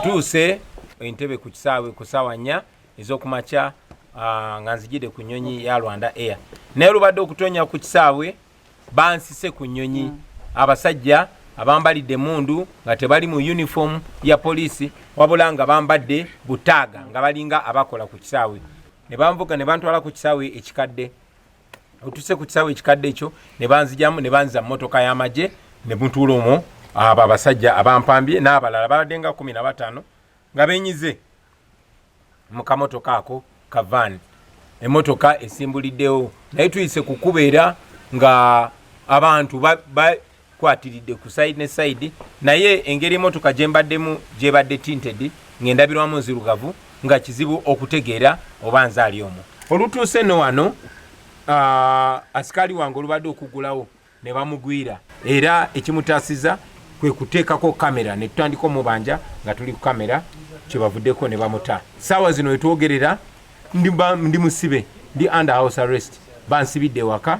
ntuuse entebe ku kisaawe ku saawa nnya ezokumakya ah, nga nzijide ku nyonyi ya rwanda air naye lubadde okutonya ku kisaawe bansise ku nyonyi mm. abasajja abambalidde mundu nga tebali mu uniform ya poliisi wabula nga bambadde butaaga nga balinga abakola ku kisaawe ne banvuga ne bantwala ku kisaawe ekikadde otuse ku kisawe ekikadde ekyo ne banzijamu ne banza mmotoka y'amagye ne mutuula omwo abo abasajja abampambye n'abalala babadde nga kumi na bataano nga benyize mu kamotoka ako kavaani emmotoka esimbuliddewo naye tuyise kukubeera nga abantu kwatiridde ku side ne side naye engeri emotoka gyembaddemu gyebadde tinted ng'endabirwamu nzirugavu nga kizibu okutegeera oba nze ali omu olutuuse no wano uh, asikaali wange olubadde okugulawo ne bamugwira era ekimutaasiza kwe kuteekako kamera ne tutandika omubanja nga tuli ku kamera kyebavuddeko ne bamuta saawa zino wetwogerera ndi musibe ndi under house arrest bansibidde ewaka